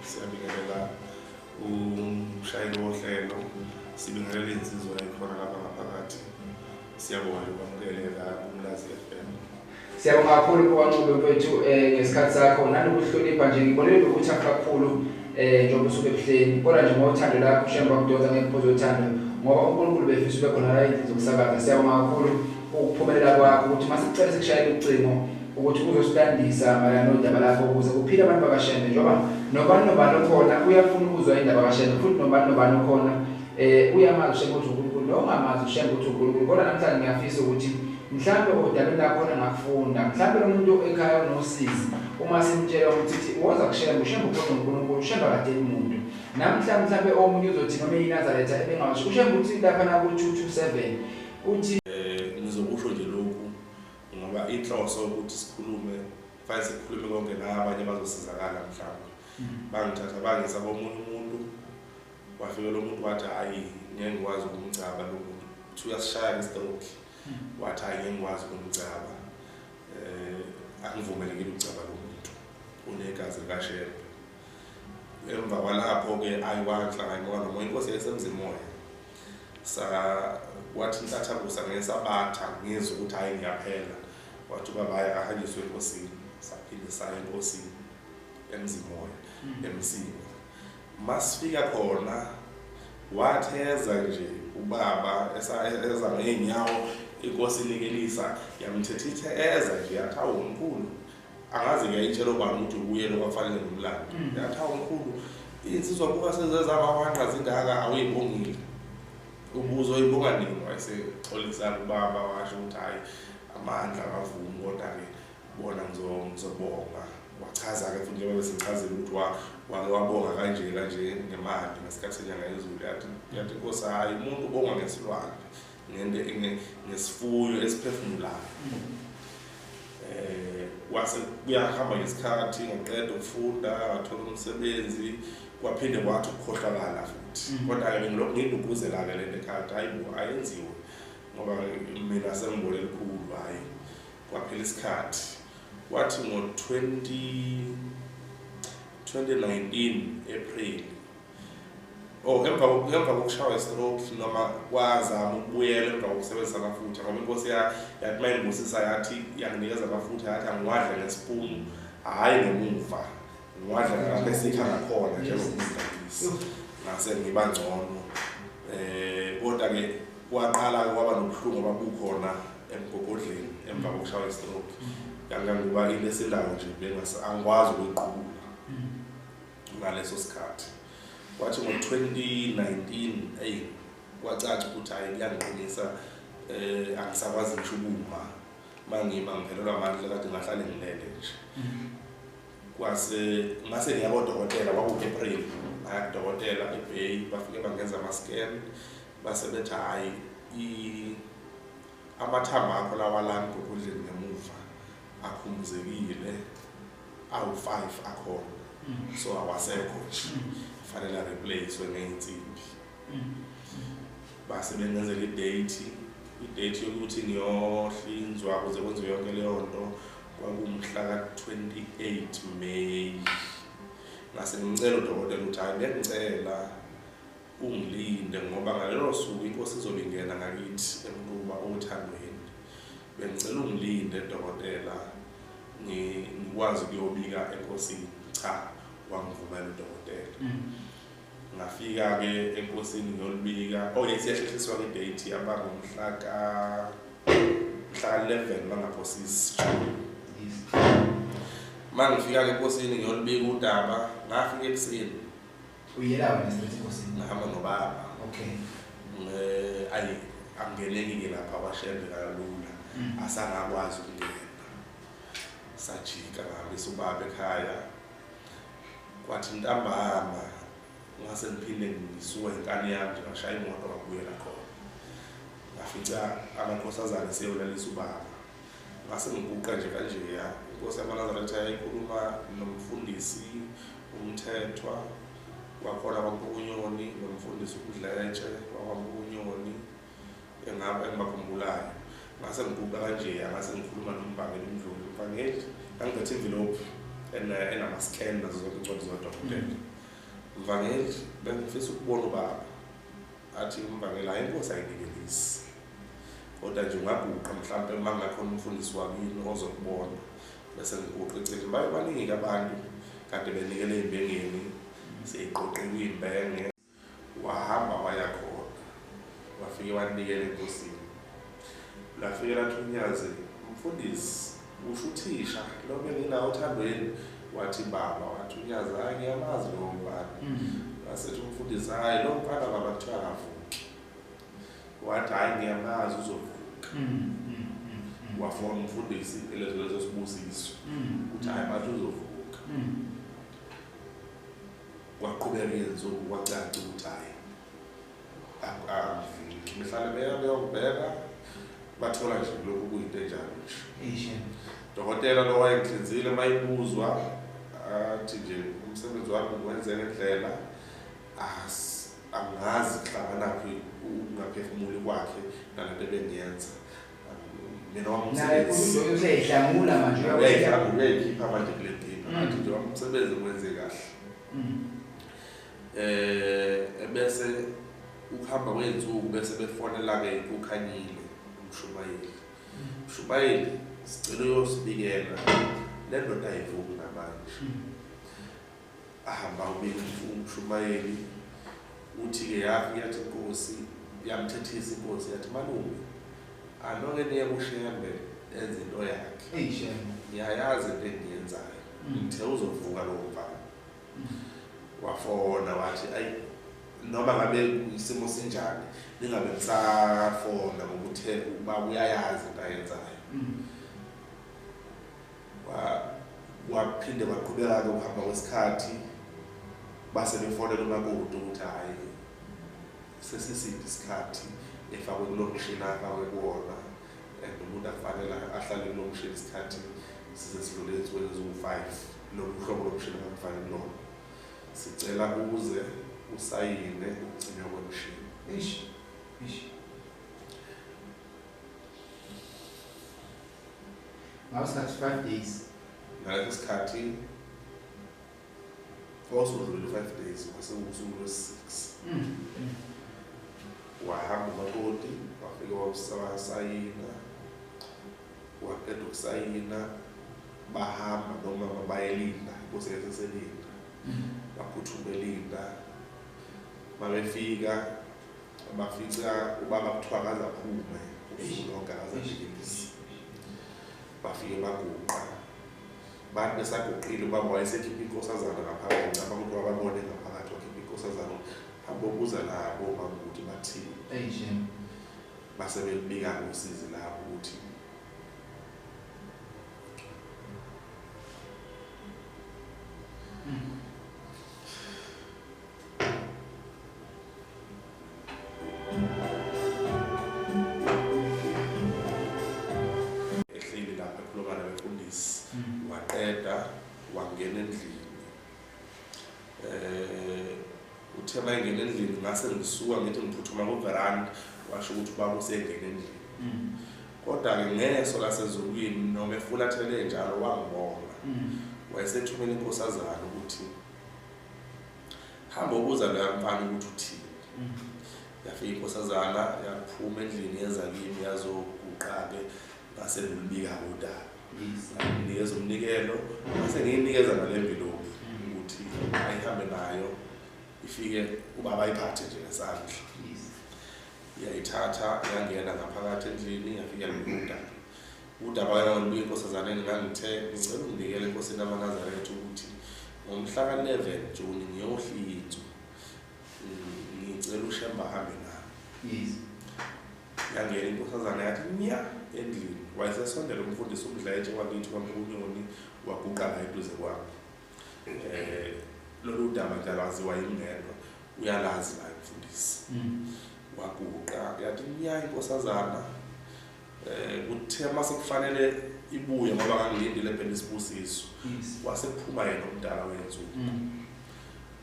Siyabingelela umshayeli wohlelo, sibingelela insizwa ekhona lapha ngaphakathi. Siyabonga nje ukwamukelela kumlazi FM. Siyabonga kakhulu kuwanqube mfethu eh ngesikhathi sakho nanokuhlonipha nje ngibonile ukuthi akakhulu eh njengoba usuke ebuhleni kodwa nje ngothando lakho shemba kudoda ngeke phozo uthando ngoba uNkulunkulu befisa ube khona la endlini zokusakaza siyabonga kakhulu ukuphumelela kwakho ukuthi masicela sikushayele ucingo ukuthi uzosilandisa mayelana nodaba lakho ukuze kuphile abantu bakashembe njengoba nobani nobani okhona uyafuna ukuzwa indaba kashembe futhi nobani nobani okhona um uyamazi ushembe ukuthi unkulunkulu nongamazi ushembe ukuthi unkulunkulu kodwa namhlanje ngiyafisa ukuthi mhlawumbe odabeni lakhona ngakufunda mhlawumbe lo muntu ekhaya unosizi uma simtshela ukuthi ithi woza kushembe ushembe ukhona unkulunkulu ushembe akadeli muntu namhla mhlawumbe omunye uzothi noma eyinazaretha ebengawasho ushembe ukuthi lapha naku-two two seven Uthi eh ngizokusho nje lokhu ngoba inhloso ukuthi sikhulume fanele sikhulume konke la abanye bazosizakala mhlawumbe. Mm-hmm. Bangithatha bangisa komunye umuntu wafike lo muntu wathi hayi ngeke ngikwazi ukumgcaba lo muntu. Uthi uyasishaya ngestroke. Mm-hmm. Wathi hayi ngeke ngikwazi ukumgcaba. Eh angivumelekile ukugcaba lo muntu. Unegazi likaShembe. emva kwalapho-ke ayiwanhlangani ngoba noma inkosi yayisemzimoya sa wathi intathakusa ngesabatha ngizwe ukuthi hhayi ngiyaphela wathi ubabaya akahanyiswe enkosini saphinde saya enkosini emzimoya hmm. emsini masifika khona watheza nje ubaba eza ngeenyawo inkosi ilekelisa yamthethithe eza nje yathi awumkhulu angaze ngiyayitshela ubani ukuthi uyena obafanele ngomlando mm. yathi hawu mkhulu insizwa kuba sezezaba wanqa zindaka awuyibongile ubuzo oyibonga nini wayesexolisana ubaba washo ukuthi hhayi amandla akavumi kodwa-ke bona ngizobonga wachaza-ke futhi njengoba besichazile ukuthi wake wabonga kanje kanje ngemali ngesikhathi senyanga yezulu yathi yathi nkosi hhayi umuntu ubonga ngesilwane ngesifuyo esiphefumulayo eh wase kuyahamba ngesikhathi ngaqeda ukufunda ngathola umsebenzi kwaphinde kwathi ukukhohlakala futhi mm. kodwa ke ngilokhu ngiduguzela-ke le nto ekhaya hayi bo ayenziwe ngoba mina sengibole elikhulu hhayi kwaphela isikhathi kwathi ngo-20 2019 april Oh, emva emva kokushawa istroke noma kwazama ukubuyela emva kokusebenzisa amafutha ngoba inkosi yathi mayingibusisa yathi yanginikeza amafutha yathi angiwadle ngesipunu hhayi ngemuva ngiwadla lapho esikha ngakhona njengomdlalisi ngase ngiba ngcono um eh, kodwa-ke kwaqala kwaba nobuhlungu ababukhona emgogodleni emva kokushawa istroke mm. kangangoba into esindawo nje angikwazi ukuyiqubula mm. ngaleso sikhathi kwathi ngo-2019 eyi kwacaca ukuthi hhayi kuyangiqinisa um angisakwazi ngisho ukuma uma ngima ngiphelelwa amandla kade ngahlale ngilele nje mm-hmm. kwase ngase ngiya kodokotela kwaku-april ngaya kudokotela ebay bafike bangenza ama-scan base bethi hhayi amathambo akho lawalani ngokudleni ngemuva akhumbuzekile awu-five akhona mm. so awasekho nje mm. fanele areplacewe ngey'nsimbi mm. base bengenzela idate idate yokuthi ngiyohlinzwa kuze kwenziwe yonke leyo nto kwakumhla ka-28 may ngase ngimcela udokotela ukuthi hhayi bengicela ungilinde ngoba ngalelo suku inkosi izobe ingena ngakithi emquba othandweni Bengicela ungilinde dokotela ngikwazi kuyobika enkosini. Cha, wangivumela udokotela. Mm. Ngafika ke enkosini ngiyolibika. Oh yes, yasheshiswa ke date abangomhla ka mhla 11 bangaphosisi. Mangifika ke enkosini ngiyolibika udaba, ngafika ekuseni. uyela wena straight enkosini ngihamba nobaba okay eh ayi angeneki ke lapha kwashembe kalula mm. asangakwazi ukungena sajika ngihambisa ubaba ekhaya kwathi ntambama ngase ngiphinde ngisuka inkani yami nje ngashaya imoto ngabuyela khona ngafica amakhosazane seyolalisa ubaba ngase ngibuqa nje kanje ya inkosi yamanazaretha yayikhuluma nomfundisi umthethwa wakhona kwampukunyoni nomfundisi umdletshe wakwampukunyoni engaba engibakhumbulayo ngase ngibuka kanje ya ngase ngikhuluma nombangeli umdluli umbangeli ngangiphethe imvilophi eh, enama-scan nazo zonke incwadi zodokotela mm. mvangeli bengifisa ukubona ubaba athi umbangeli hayi inkosi ayinikelisi kodwa nje ungaguqa mhlawumpe uma ngakhona umfundisi wakini ozokubona bese ngiguqa eceleni baye baningi-ke abantu kade benikele ey'mbengeni seyiqoqiwe iy'mbenge wahamba waya khona wafike wanikela enkosini lafike lathi unyazi mfundisi usho uthisha lo benginawo othandweni wathi baba wathi unyazi hayi ngiyamazi lowo mfana mm. wasethi umfundisi hhayi lo mfana baba kuthiwa akavuki wathi hayi ngiyamazi uzovuka mm, mm, mm, wafona umfundisi elezo lezo sibusiso ukuthi hayi bathi uzovuka kwaqhubeka iyensuku kwacaca ukuthi hayi behlale beya beyokubheka bathola nje lokhu kuyinto enjalo nje dokotela lo wayengihlinzile uma ibuzwa athi nje umsebenzi wami ngiwenze ngendlela asi angazi kuhlanganaphi ukungaphefumuli kwakhe nalento ebengiyenza mina wamsebenziuseyihlangula manje uyayikhipha manje kule ndima mm. manje nje wamsebenzi kwenze kahle mm. eh ebese ukuhamba kwey'nsuku bese befonela-ke ukhanyile umshumayeli mm. mshumayeli sicela uyosibikela le ndoda ayivumi namanje ahamba ubekifu umshumayeli uthi-ke yafi yathi inkosi yamthethisa inkosi yathi malume anoke niye kushembe enze into yakhe eyishembe ngiyayazi into engiyenzayo mm. ngithe uzovuka lowo mfana mm. wafona wathi ayi noma ngabe isimo sinjani ningabe nisafona ngokuthe uba uyayazi into ayenzayo mm. waphinde waqhubeka-ke ukuhamba kwesikhathi base befonela umakoti ukuthi hhayi sesiside isikhathi efakwe kulo mshini afakwe kuwona and umuntu akufanele ahlale kulo mshini isikhathi size sidlule ezinsukwini eziwu-five lomhlobo lomshini akakufani kulona sicela uze usayine ukugcinwa kwemshini ish ish ngaleso sikhathi five days ngaleso sikhathi wawusudlulile five days wasengusuku lwesi-six mm, mm. wahamba umakoti wafike wasayina waqeda ukusayina bahamba nomama bayelinda inkosi yaseselinda mm. baphuthuma elinda mabefika bafica ubaba kuthiwa kaze aphume ufunoga kaze ajikelise bafike baguqa bathi besaguqile ubaba wayesekhipha inkosazana ngaphakathi ngicaba ukuthi wababone ngaphakathi wakhipha inkosazana abobuza labo makuthi bathini base belibika ngosizi labo ukuthi ngase ngisuka ngithi ngiphuthuma kuveranda washo ukuthi ubaba usengene endlini mm. kodwa-ke ngeso lasezulwini noma efulathele njalo wangibona mm. wayesethumela inkosazana ukuthi hamba ubuza loya mfana ukuthi uthini mm. yafika inkosazana yaphuma endlini yenza kimi yazoguqa-ke ngase ngilibika kodaba nginikeza umnikelo ngase ngiyinikeza ngale mbilobi mm. ukuthi ayihambe nayo ifike ubaba ayiphathe nje ngesandla yayithatha yangena ngaphakathi endlini yafika ngibuda Udaba lwena ngolubuye enkosazaneni ngangithe ngicela ungibikele enkosini amanazaretha ukuthi ngomhla ka-11 juni ngiyohlinzwa ngicela ushemba ahambe nami yangena inkosazane yathi nya endlini wayesesondela umfundisi umdletshe wakithi kwamkunyoni waguqa la eduze kwami um eh, lolu daba nje alwaziwa yingedwa uyalazi la mfundisi mm. waguqa yathi nya inkosazana Eh uthe mase kufanele ibuye ngoba ngangilindile ebhele isibusiso. Wase kuphuma yena umdala wenzu. Mm.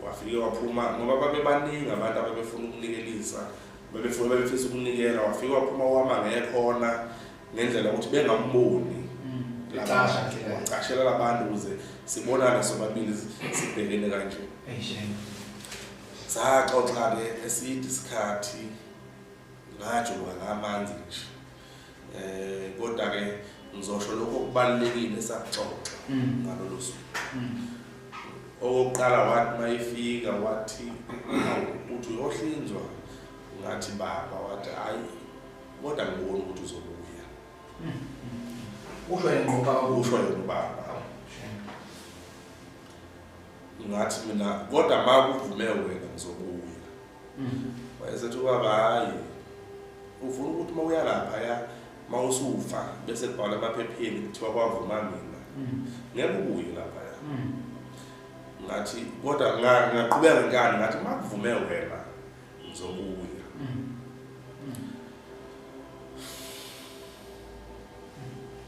Wafike waphuma ngoba babebaningi abantu abebefuna ukunikelisa. Bebefuna bebefisa ukunikela wafike waphuma wama ngekhona ngendlela ukuthi bengamboni. Licasha mm. ke. Wacashela labantu ukuze sibonane sobabili sibhekene kanje. Ehe. Saxoxa ke eside isikhathi. ngajoka ngamanzi nje eh kodwa ke ngizosho lokho okubalekile esaxoxa mm. ngalolu suku mm. okokuqala wathi mayifika wathi uthi uyohlinzwa ngathi baba wathi hayi kodwa ngibona ukuthi uzobuya mm. usho yena ngoba usho yena ubaba ngathi mina kodwa makuvume wena ngizobuya wayesethi ubaba hayi ufuna ukuthi uma uya laphaya uma usufa bese kubhala emaphepheni kuthiwa kwavuma mina ngeke ubuye laphaya ngathi kodwa ngaqhubeka ngani ngathi uma kuvume wena ngizobuya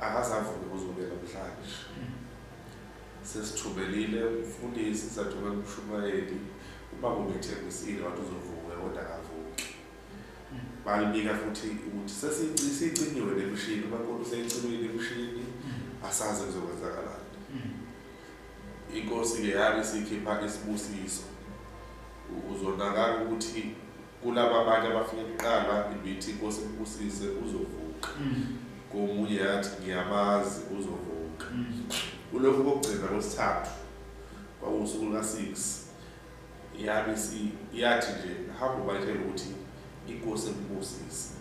akasavuki kuzobuyela namhlanje sesithubelile umfundisi sathumela umshumayeli uma kumethembisile wathi uzovuka kodwa akavuki balibika futhi ukuthi sesicinyiwe nemishini umakoti useyicinyiwe nemishini asazi kuzokwenzakalani inkosi-ke yabe sikhipha isibusiso uzonakala ukuthi Kulaba abanye abafike kuqala ibithi inkosi ibusise uzovuka. Mm. Komunye yathi ngiyabazi uzovuka. Mm. Kulokhu kokugcina kwesithathu kwakuwusuku luka-six yabe yathi nje hamba ubatshela ukuthi inkosi ebusise.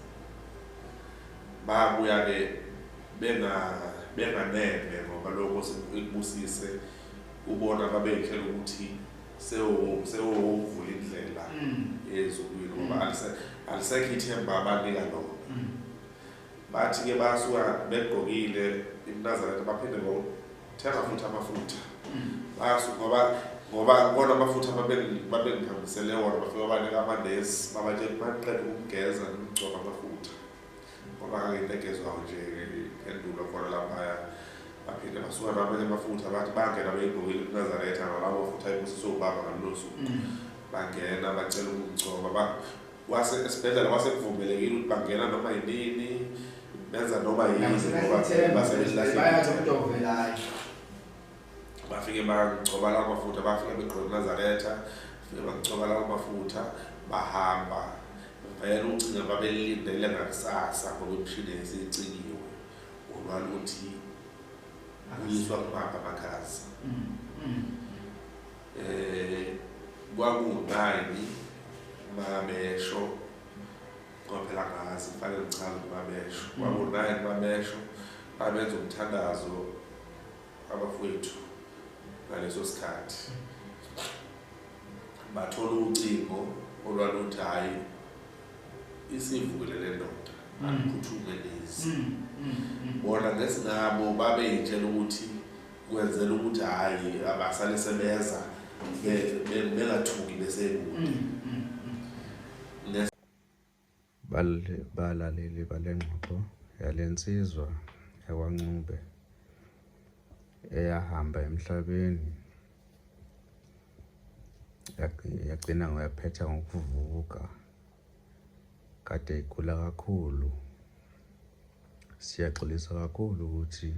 Babuya-ke benganeme ngoba lokho ikubusise ubona babeyitshela ukuthi sewuvula indlela ezukwini mm. ngoba mm. alisekho ithemba abanika lona mm. bathi-ke basuka begqokile imnazaretha baphinde ngothenga futhi amafutha basuka ngoba ngoba bona amafutha babengihambisele wona bafika banika amanesi babatshela baqeda ukugeza nokugcoba amafutha ngoba kangento egezwayo nje endulo khona laphaya baphinde basuka nabanye amafutha bathi bangena beyigqokile kunazaretha nalabo futhi ayibusiswe ubaba ngalolo suku mm. bangena bacela ukungcoba wase esibhedlela wase kuvumelekile ukuthi bangena noma yinini benza noma yini ngoba basebenzisa bafike bangcoba lawo mafutha bafike begqoke nazaretha bafike bangcoba lawo mafutha bahamba vele ucinga babelindele ngakusasa ngoba imishini yayisicingiwe olwala ukuthi kuyiswa kubamba amakhazi um mm, mm. kwakungunani babesho kwaphela ngazi fanele ngichaze ukuthi babesho mm. kwakungunani babesho babenza umthandazo abafowethu ngaleso sikhathi bathola ucingo olwaluthi hhayi isivukele le ndoda mm. aluphuthume lezi mm, mm, bona ngesingabo babeyitshela ukuthi kwenzela ukuthi hhayi abasale sebeza bengathuki besekude Balaleli bale ngxoxo yale nsizwa yakwaNcube eyahamba emhlabeni yagcina ngoyaphetha ngokuvuka kade igula kakhulu siyaxolisa kakhulu ukuthi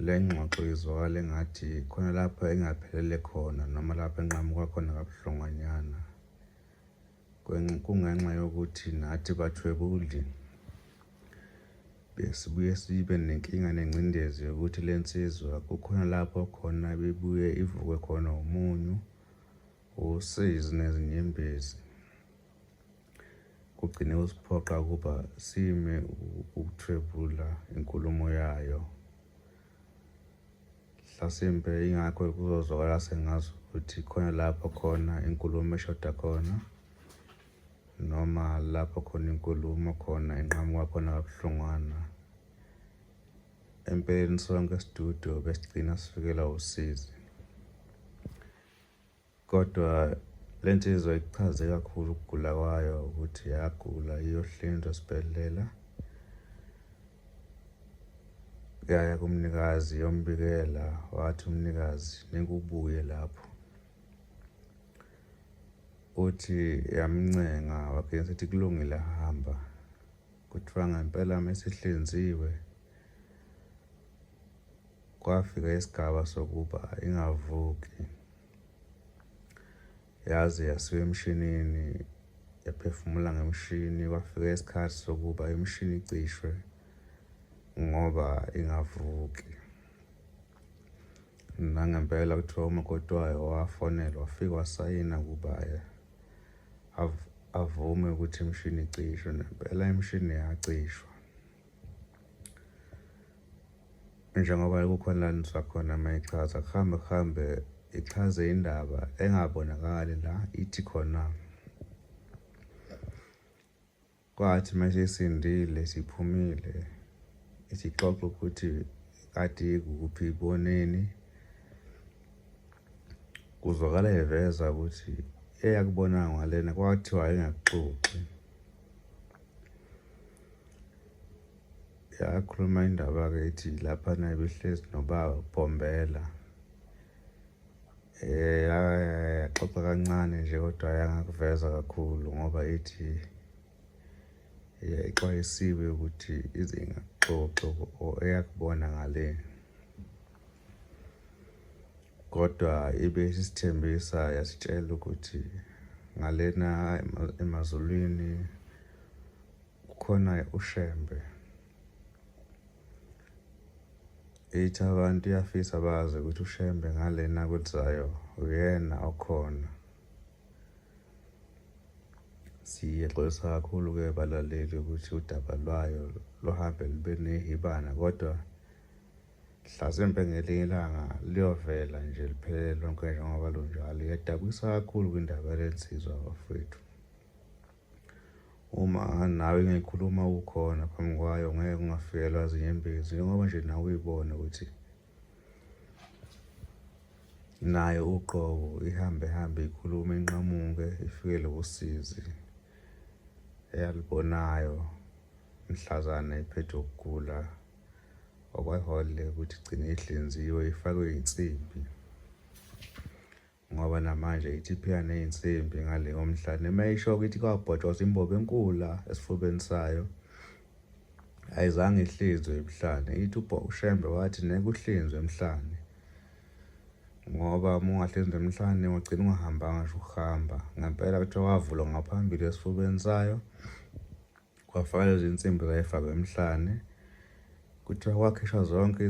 le ngxoxo izwakala engathi khona lapho engaphelele khona noma lapho enqamuka khona kabuhlungwanyana kungenxa yokuthi nathi bathwebuli besibuye sibe nenkinga nengcindezi yokuthi le nsizwa kukhona lapho khona bebuye ivukwe khona umunyu usizi nezinyembezi kugcine usiphoqa ukuba sime ukuthwebula inkulumo yayo Hlasimpe ingakho kuzozwakala sengazi ukuthi khona lapho khona inkulumo eshoda khona noma lapho khona inkulumo khona inqamuka khona kabuhlungwana empeleni sonke studio besigcina sifikelwa usizi Kodwa le nsizwa ikuchaze kakhulu ukugula kwayo ukuthi yagula iyohlinzwa esibhedlela yaya kumnikazi yombikela wathi umnikazi nikubuye lapho uthi yamncenga wagcina sethi kulungile hamba kuthiwa ngempela mesihlinziwe kwafika isigaba sokuba ingavuki yaze yasiwa emshinini yaphefumula ngemshini kwafika isikhathi sokuba imishini icishwe ngoba ingavuki nangempela kuthiwa umakoti wayo wafonelwa wafika wasayina ukuba avume ukuthi imishini icishwe nempela imishini yacishwa njengoba kukhona la niswa khona uma ichaza kuhambe kuhambe ichaze indaba engabonakali la ithi khona kwathi uma sisindile siphumile isixoxo ukuthi kade kuphi iboneni kuzwakala eveza ukuthi eyakubonanga ngalena kwathiwa engakuxoxi yakhuluma indaba-ke ithi lapha naye behlezi nobaba bombela um eh, yaxoxa kancane nje kodwa yangakuveza kakhulu ngoba ithi yayixwayisiwe ukuthi ize ingaxoxo eyakubona ngale kodwa ibe isithembisa yasitshela ukuthi ngalena emazulwini Kukhona uShembe. Ithi abantu iyafisa bazi ukuthi uShembe ngalena kulizayo uyena okhona. Siyexolisa kakhulu-ke balaleli ukuthi udaba lwayo luhambe lube nehibana kodwa mhlasimpe ngelinye ilanga luyovela nje liphelele lonke njengoba lunjalo. Iyadabukisa kakhulu kwindaba lensizwa bafowethu. uma nawe ngikhuluma ukhona phambi kwayo ngeke ungafikelwa zinyembezi njengoba nje nawe uyibone ukuthi nayo uqobo ihambe hambe ikhulume inqamuke ifikele usizi eyalibonayo mhlazana iphethe ukugula okwahole ukuthi igcine ihlinziwe ifakwe insimbi ngoba namanje ithi iphika ney'nsimbi ngale komhla noma ishoke ithi kwabhotshoza imbobo enkula esifubeni sayo ayizange ihlinzwe emhlane ithi ushembe wathi neke uhlinzwe emhlane ngoba uma ungahlinzwa emhlane ugcina ungahambanga ngisho ukuhamba ngempela kuthiwa wavulwa ngaphambili esifubeni sayo Kwafakwa lezi nsimbi zayifakwa emhlane. Kuthiwa kwakhishwa zonke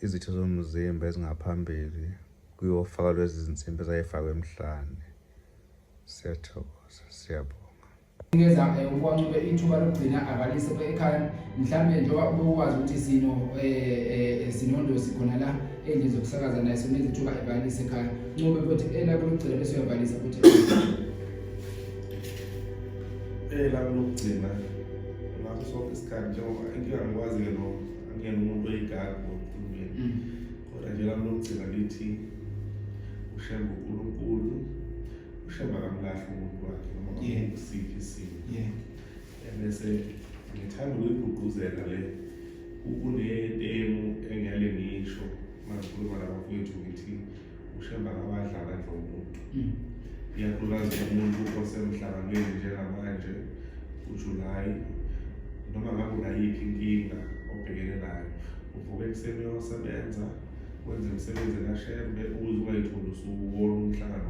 izitho zomzimba ezingaphambili kuyofakwa lezi zinsimbi ezayifakwa emhlane. Siyathokoza, siyabonga. Ngeza eh, ukwacube ithuba lokugcina abalise ekhaya mhlawumbe njengoba ubukwazi ukuthi sino eh, eh, sinondosi khona la endlini zokusakaza naye sona izithuba ebalise ekhaya ncube futhi elakho lokugcina bese uyabalisa futhi elami lokugcina ngakho sonke isikhathi njengoba inkinga ngikwazi-ke no angiyena umuntu oyigadi ngokulumeni mm. kodwa nje lami lokugcina lithi ushembe unkulunkulu ushembe akamlahle umuntu wakhe noma usiphi isimo ebese ngithanda ukuyigqugquzela le kunetemu engiyale ngisho mazikhuluma nabafowethu ngithi ushemba kabadlala nje umuntu mm. iyakhubaza umuntu osemhlanganweni njengamanje ujulayi noma ngabe unayiphi inkinga obhekene nayo uvuka ekuseni uyosebenza wenze imisebenzi kashembe ukuze ungayitholi usuwona umhlangano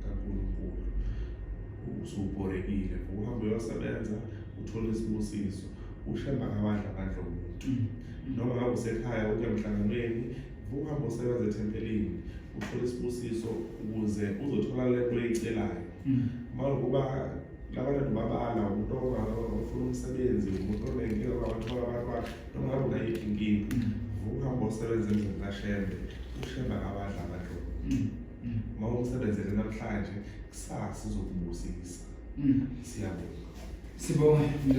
kankulunkulu usubhorekile uhamba uyosebenza uthole isibusiso ushemba kabadla abadla umuntu mm. noma ngabe usekhaya uke emhlanganweni Vuka ngosebenza ethempelini uthole isibusiso ukuze uzothola le nto oyicelayo hmm. makuba labantu ndibabala umuntu ofuna umsebenzi umuntu onenkinga kwabathola abantwana noma ngabe unayiphi inkinga hmm. vuka uhambe osebenza emzini kashembe ushembe akabadla abantu hmm. uma umsebenzele namhlanje kusasa uzokubusisa siyabonga sibonge